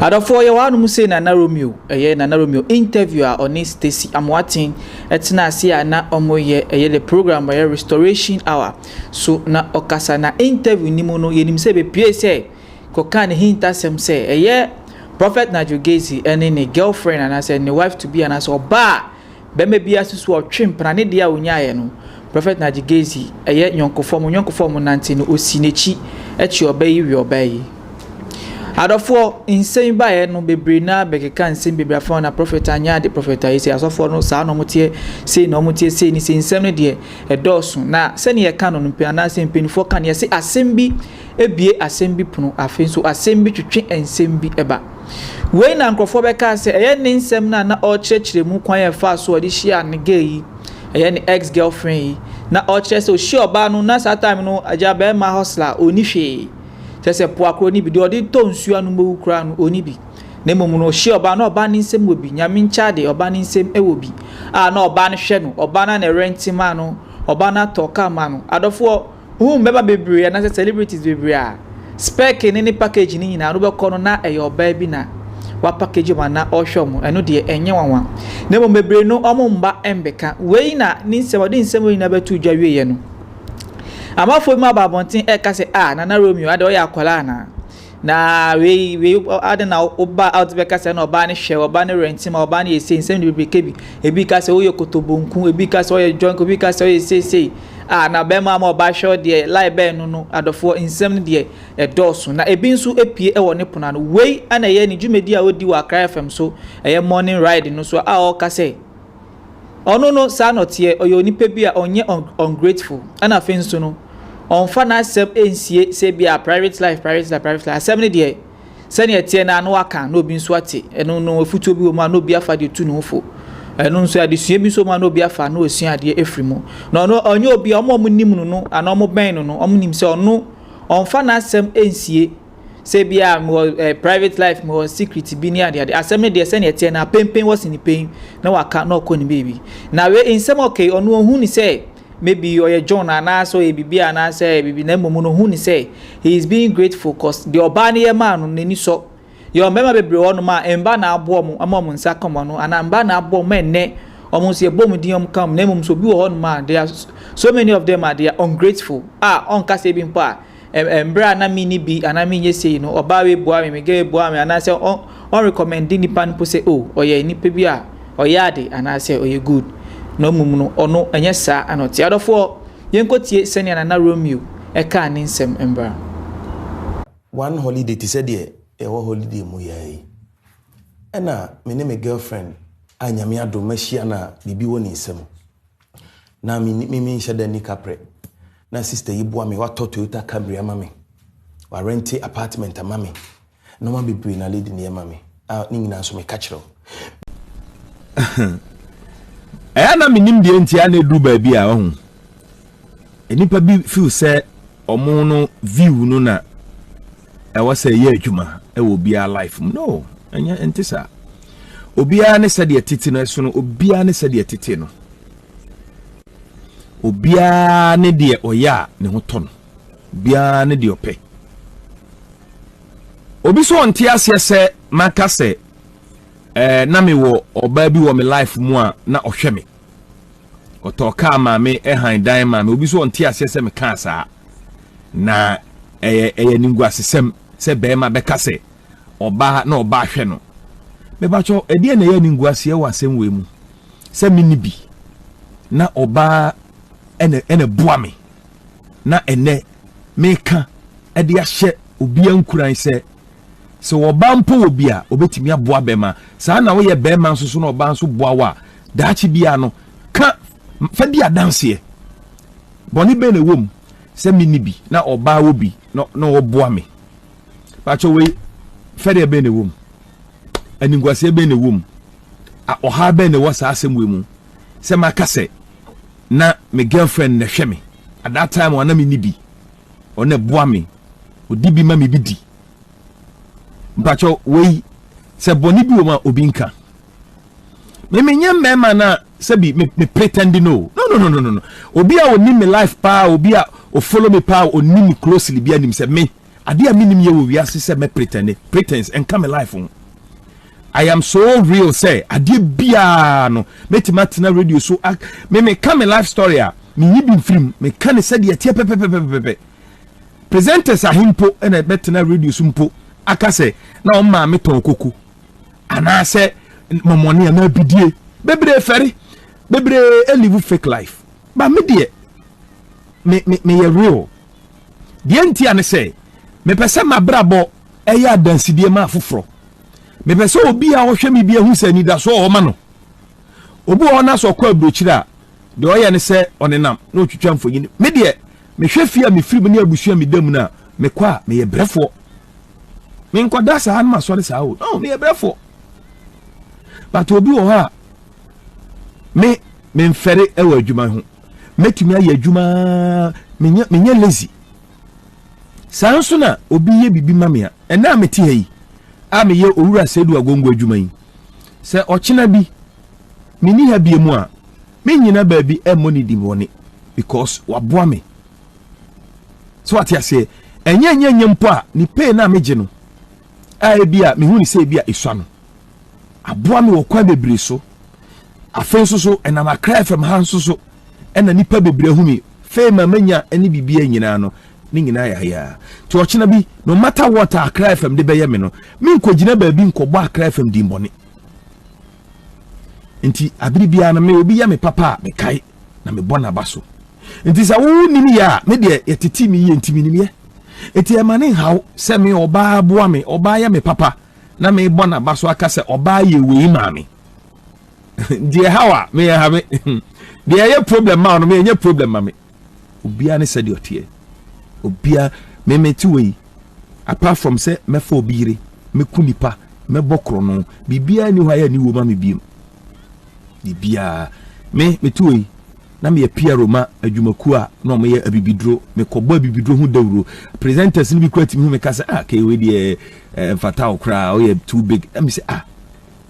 Adɔfoɔ, yɛwɔ hanom sei Nana Romeo, ɛyɛ Nana Romeo interview a ɔne Stacy Amoaten tenaa ase a na wɔyɛ, ɛyɛ the program ɛyɛ Restoration Hour so na ɔkasa na interview no mu no yɛnim sɛ bɛpuee sɛ kɔkaa ne hintasɛm sɛ ɛyɛ Prophet Nigel Gezi ne ne girlfriend anaasɛ ne wife to be anaasɛ ɔbaa a Bɛma biaa si so a ɔtwe mpena ne deɛ a ɔnyaaɛ no Prɔfɛt Naji Gezi ɛyɛ nyɔnkofoɔ a mo nyɔnkofoɔ a mo nante no ɔsi n'akyi kye ɔbaa yi we ɔbaa yi Adɔfoɔ nsɛm yi baeɛ no bebree no ara bɛkeka nsɛm bebree afa ho na Prɔfɛt anyɛ ade Prɔfɛt ayɛ sei Asɔfoɔ no saa na ɔmo teɛ sei na ɔmo teɛ sei ne sei Nsɛm no deɛ ɛdɔɔso na sɛdeɛ yɛka no no anaasɛ mpaninfoɔ ka no yɛse asɛm bi bue asɛm bi pono, afei nso asɛm bi twetwe nsɛm bi ba. Wei na nkurɔfoɔ bɛkaa sɛ ɛyɛ ne nsɛm no a na ɔrekyerɛkyerɛ mu kwan a ɛfaa so a ɔde hyiaa ne gay yi, ɛyɛ ne ex girlfriend yi. Na ɔkyerɛ sɛ ɔhyia ɔbaa no na saa time no agya bɛrima hustler a ɔnni hwee. Kyerɛ sɛ poa koraa ɔnni bi, deɛ ɔde tɔ nsuo anom bɛwu koraa no ɔnni bi. Na mmom no ɔhyia ɔbaa na ɔbaa no nsɛm wɔ bi, nyame nkyɛn adeɛ ɔbaa no nsɛm wɔ bi a na ɔbaa no hwɛ no, ɔbaa no a na ɛrɛnte maa no, ɔbaa no atɔ car maa no. Adɔfoɔ, Huu mbɛba bebree anasɛ celebrities bebree a spɛke ne ne package no nyinaa no bɛkɔ no na ɛyɛ ɔbaa bi na wa package ɔmo ana ɔɔhwɛ ɔmo ɛno deɛ ɛnyɛ nwanwa na mmom bebree no ɔmo mma mbɛka wei na ne nsɛm ɔde nsɛm wei nyinaa bɛtoo dwa wieɛ no amafoɔ bi mo aba abɔnten ɛɛka sɛ ah Nana Romeo adɛ ɔyɛ akwadaa anaa Na wei, wei, adɛn na woba a wode bɛka sɛ na ɔbaa no hwɛ, ɔbaa no rente ma, ɔbaa no yɛ sei, nsɛm de bebree ka bi. Ebi ka sɛ woyɛ kotobonku, ebi ka sɛ ɔyɛ drunk, ebi ka sɛ ɔyɛ sei sei. Ah, na bɛrima ama ɔbaa hwɛ deɛ, lie bɛn no no, adɔfoɔ, nsɛm no deɛ ɛdɔɔso. Na ebi nso apue wɔ ne pono ano. Wei na ɛyɛ ne dwumadi a ɔdi wɔ Accra FM so, ɛyɛ morning ride no so a ɔreka sɛ, Ɔno no saa na ɔteɛ, ɔyɛ onipa bi a ɔnyɛ ungrateful ɛna afei nso no ɔmfa n'asɛm nsie sɛ bi a private life private life private life asɛm no deɛ sɛnea ɛteɛ no a na waka na obi nso ate ɛno no afutuo bi wɔ mu a na obi afa deɛ tu ne ho fo ɛno nso adesua bi nso mu a na obi afa na ɔsua adeɛ afiri mu na ɔno ɔnyɛ obi a ɔmo a ɔmo nim no no anaa ɔmo bɛn no no ɔmo nim sɛ ɔno ɔmfa n'asɛm nsie sɛ bi a mewɔ eh, private life mewɔ secret bi ne adeade asɛm no deɛ sɛnea ɛteɛ na pempen wɔ sene pen na waka na ɔkɔ ne baabi na wei nsɛm ɔkɛi ɔno ɔhu ne sɛ maybe ɔyɛ john anaasɛ ɔyɛ biribi anaasɛ biribi na mmom no ɔhu ne sɛ he is being grateful cause deɛ ɔbaa no yɛ maa no n'ani sɔ yɛ ɔmmarima bebree hɔ nom a mba na aboɔ mo ama ɔmo nsa kɔmɔ no anaa mba na aboɔ mo ɛnnɛ ɔmo nso yɛbɔ ɔmo din ɔmo ka ɔmo na mmom so bi wɔ hɔ nom a they are so many of them a they are ungrateful a ɔnka sɛ bi mpo a Ɛ mberɛ a na menni bi anaa menyɛ sei no, ɔbaa wei boaa me, me girl boaa me, anaa sɛ ɔ ɔ recommende nipa no mpo sɛ oh ɔyɛ nipa bi a ɔyɛ ade anaa sɛ ɔyɛ good. Na mmom no, ɔno ɛnyɛ saa na ɔte. Adɔfoɔ, yɛnkɔtie sɛnea Nana Romeo ɛkaa ne nsɛm mbra. One holiday te sɛ deɛ yɛwɔ holiday mu yɛ yi, ɛna me ne me girlfriend a Nyame adom mahyia no a biribi wɔ ne nsam. Na me me menhyɛ da nni kaprɛ. Na sista yi boa me, watɔ Toyota Camry ama me. Warente apartment ama me. Nneɛma bebree na lady no yɛ ma me. A ne nyinaa nso meka kyerɛ wo. Ɛyɛ na menim deɛ nti a na ɛduru baabi a ɔho. Nnipa bi feel sɛ Ɔmo no view no na ɛwɔ sɛ ɛyɛ adwuma ɛwɔ obiara life mu no ɛnyɛ ɛnte saa obiara ne sɛdeɛ tete no ɛsono obiara ne sɛdeɛ tete no obiara ne deɛ ɔyɛ a ne ho tɔ no obiara ne deɛ ɔpɛ obi so ɔnte aseɛ sɛ maka sɛ ɛɛ eh, na mewɔ ɔbaa bi wɔ me life mu a na ɔhwɛ me ɔtɔɔ kaa maa me ɛhan dan maa me obi so ɔnte aseɛ sɛ mekaa saa na ɛyɛ ɛyɛ ninguasesɛm sɛ bɛrima bɛka sɛ ɔbaa na ɔbaa hwɛ no mebakyɛ ɛdeɛ na ɛyɛ ninguaseɛ wɔ asɛm wei mu sɛ me ni bi na ɔbaa ɛna ɛna boa me na ɛnɛ meka ɛde ahyɛ obi ankuran sɛ Sɛ ɔbaa mpo wɔ bi a, ɔbɛtumi aboa bɛma. Saa na woyɛ bɛma nso so na ɔbaa nso boa wo a, daakye biara no, ka, fa di adanseɛ. Bɔne bɛn na ɛwɔ mu sɛ menni bi na ɔbaa wɔ bi na, na ɔboa me? Pakyɛ wei, fɛdeɛ bɛn na ɛwɔ mu? Animguaseɛ bɛn na ɛwɔ mu? A, ɔhaa bɛn na ɛwɔ saa asɛm wei mu? Sɛ maka sɛ, na me girlfriend na ɛhwɛ me at that time a na menni bi. Ɔno na ɛboa me. Ɔdi bi ma me bi di. Mpakyɛw, wei, sɛ bɔne bi wɔ mu a, obi nka. Me menyɛ mmarima no a sɛbi me, me pretend no. No, no, no, no, no. Obi a ɔnim me life paa, obi a ɔfollow me paa, ɔnim me closely bi anim sɛ me, adeɛ a menim yɛ wɔ wiase sɛ mɛ pretend. Pretense, ɛnka me life ho. I am so real sɛ adeɛ biara no mɛtumi atena radio so me meka me life story a menyi bi mfirim meka ne sɛdeɛ ɛteɛ pɛpɛpɛpɛpɛ presenters ahe mpo ɛna bɛtena radio so mpo aka sɛ na wɔn maame tɔn koko anaasɛ mɔmɔne anaa bidie bebree fɛre bebree ɛlive fake life ba me deɛ me me meyɛ real deɛ nti a ne sɛ mepɛ sɛ mabrabɔ Ɛyɛ adansedie ma afoforɔ. Mepɛ sɛ obi a ɔhwɛ me biara hu sɛ anidasoɔ wɔ hɔ ma no. Obi wɔ hɔ na sɛ ɔkɔ aburokyire a, deɛ ɔyɛ ne sɛ ɔnenam na ɔtwitwa mfonini. Me deɛ, mehwɛ fie a mefiri mu ne abusua a meda mu no a, mekɔ a, meyɛ brɛfoɔ. Menkɔda saa na masɔre saa o. No, meyɛ brɛfoɔ. But obi wɔ hɔ a, me memfɛre wɔ adwuma ho. Mɛtumi ayɛ adwuma, menyɛ lazy. Saa nso na obi yɛ biribi ma me a, ɛnnɛ a mete ha yi a meyɛ Owura Seidu Agongo adwuma yi, sɛ ɔkyena bi menni ha biom a, mennyina baabi mmɔ ne din bɔne because waboa me. So wate aseɛ? Ɛnyɛ ɛnyɛ ɛnyɛ mpo a, ne pay no a megye no a ebia mehu no sɛ ebia esua no. aboa me wɔ kwan bebree so. Afei nso so, ɛnam Accra FM ha nso so ɛna nipa bebree ahu me. Fame a manya ne biribiara nyinaa no, ne nyinaa yɛ ayaa. Nti ɔkyena bi, no matter what a Accra FM de bɛyɛ me no, menkɔgyina baabi nkɔbɔ Accra FM din bɔne. Nti abere biara no, me obi yɛ me papa a, mekae na mebɔ n'aba so. Nti sɛ wo nim yɛ a, me deɛ yɛtete me yie nti menim yɛ. Nti ɛma ne nhaw sɛ me ɔbaa boa me, ɔbaa yɛ me papa. na mebɔ n'aba so aka sɛ ɔbaa yɛ wei maame deɛ haw a meyɛ ha me deɛ ɛyɛ problem ma ɔno meyɛ nyɛ problem ma me obiara ne sɛdeɛ ɔteɛ obiara memete wei apart from sɛ mɛfa obi yere mɛku nipa mɛbɔ korɔ no biribiara ni hɔ a yɛ ne wɔ ma me biem biribiara. Me, meto wei, na meyɛ PRO ma adwumakuo a na wɔyɛ abibiduro. Mekɔbɔ abibiduro ho dawuro. Presenters no bi kura tumi ho meka sɛ, ah, kei wei deɛ eh, mfata wo koraa, woyɛ too big. Na me sɛ, ah,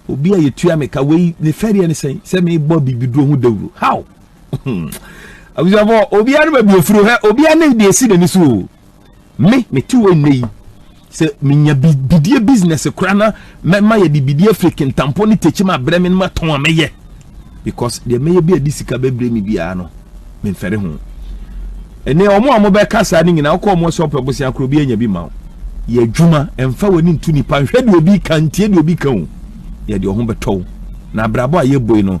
obi a yɛtua meka wei ne fɛdeɛ ne sɛn sɛ mebɔ abibiduro ho dawuro. How? abusuafoɔ obiara no baabi ofiri hɛ obiara ne deɛ esi n'ani so o me me te wɔ nnɛ yi sɛ menya bidie business kora na mɛma yɛde bidie firi kentampɔ ne tekyim abrɛ me no matɔn a mɛyɛ because deɛ mɛyɛ bi a de sika bɛbrɛ me biara no memfɛre ho ɛnɛ wɔn a wɔbɛka saa no nyinaa wokɔ wɔn sɛ ɔpɛ bosea korɔ bi anya bi ma wo yɛ adwuma ɛmfa w'ani nto nipa nhwɛ deɛ obi ka ntie deɛ obi ka o yɛ deɛ ɔho bɛtɔ wo na abrabɔ a yɛbɔ yi no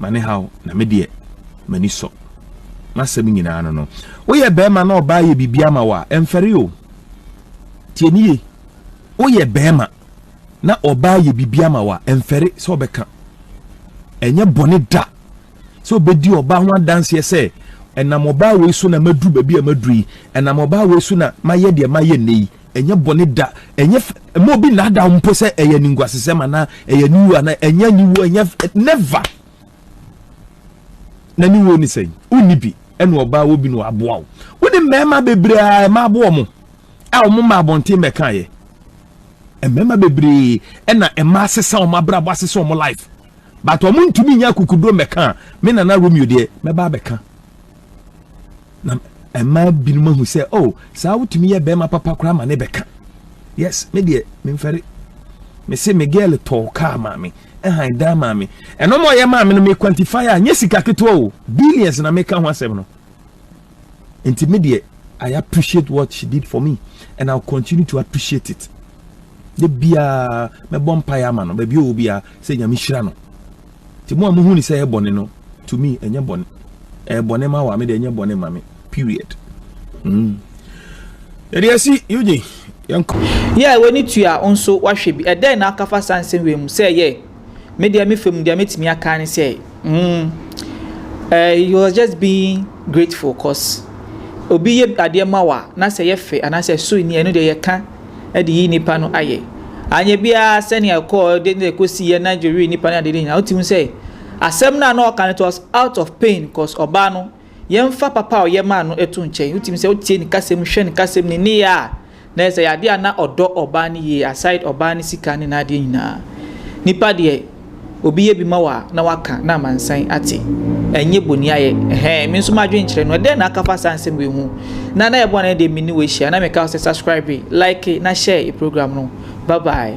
ma ne haw na me deɛ m'ani sɔ n'asɛm nyinaa no no woyɛ bɛrima na ɔbaa yɛ biribi ama wɔ a ɛmfɛre o tie ne ye woyɛ bɛrima na ɔbaa yɛ biribi ama wɔ a ɛmfɛre sɛ ɔbɛka ɛnyɛ bɔne da sɛ ɔbɛdi ɔbaa ho adanseɛ sɛ ɛnam ɔbaa wei so na maduru baabi a maduru yi ɛnam ɔbaa wei so na mayɛ deɛ mayɛ nnɛ yi Ɛnyɛ bɔne da, ɛnyɛ fɛ, ɛma obi nnaadaa mpo sɛ ɛyɛ ne nguasesɛm anaa ɛyɛ ne wuo anaa ɛnyɛ ne wuo ɛnyɛ never. Na ne wuo ne sɛn? Wonni bi ɛna ɔbaa wɔ bi na waboa wo. Wo ne mmarima bebree a ɛma aboɔ mo a wɔn mma abɔnten bɛkaeɛ. Mmarima bebree ɛna ɛma asesa wɔn abrabɔ asesa wɔn life. But wɔn ntumi nyɛ akukuduro mmɛka a me nana Romeo deɛ mɛba abɛka. na ɛma binom ahu sɛ o oh, saa wotumi yɛ bɛrima papa koraa ma ne bɛka yes me deɛ memfɛre mese me girl tɔɔ kaa maa me ɛhan dan maa me ɛno ma ɔyɛ maa me no me quantify a nyɛ sika ketewa o billions na meka ho asɛm no nti me deɛ I appreciate what she did for me and I'll continue to appreciate it de biara mɛbɔ mpaeɛ ama no baabi ɔwɔ biara sɛ nyame hyira no Nti mo a mohu no sɛ ɛyɛ bɔne no, to me ɛnyɛ bɔne. Ɛyɛ bɔne ma wo a, me deɛ ɛnyɛ bɔne ma me. Period. Mm. Yɛde asi Eugene, yɛnkɔ. Yeah, w'ani tua wo nso woahwɛ bi. Ɛdɛn na woka fa saa nsɛm wei mu? Sɛ yeah, me deɛ me fa mu deɛ mɛtumi aka ne sɛ, mm, eh, he was just being grateful cause obi yɛ adeɛ ma wo a, na sɛ ɛyɛ fɛ anaasɛ ɛso nni a, ɛno deɛ yɛka. de yi nnipa no ayɛ. Anyɛ biara sɛnea ɛkɔɔ de ne kosiiɛ na Joe wee nnipa no adeɛ no nyinaa. Wote mu sɛ asɛm no a na ɔka no it was out of pain cause ɔbaa no yɛmfa papa a ɔyɛ maa no ɛto nkyɛn. Wote mu sɛ wotie ne kasa mu, hwɛ ne kasa mu, ne nneyɛɛ a na ɛyɛ sɛ ɛyɛ adeɛ a na ɔdɔ ɔbaa no yie aside ɔbaa no sika ne n'adeɛ nyinaa. Nnipa deɛ. Obi yɛ bi ma wo a na waka na amansan ate. Ɛnyɛ boniayɛ. Ɛhɛn, me nso m'adwene kyerɛ no. Ɛdɛn na aka fa saa nsɛm wei ho? Na na yɛbɔ a na ɛdeɛ me ne wo ahyia. Na meka wo sɛ subscribe, like na share program no. Bye bye.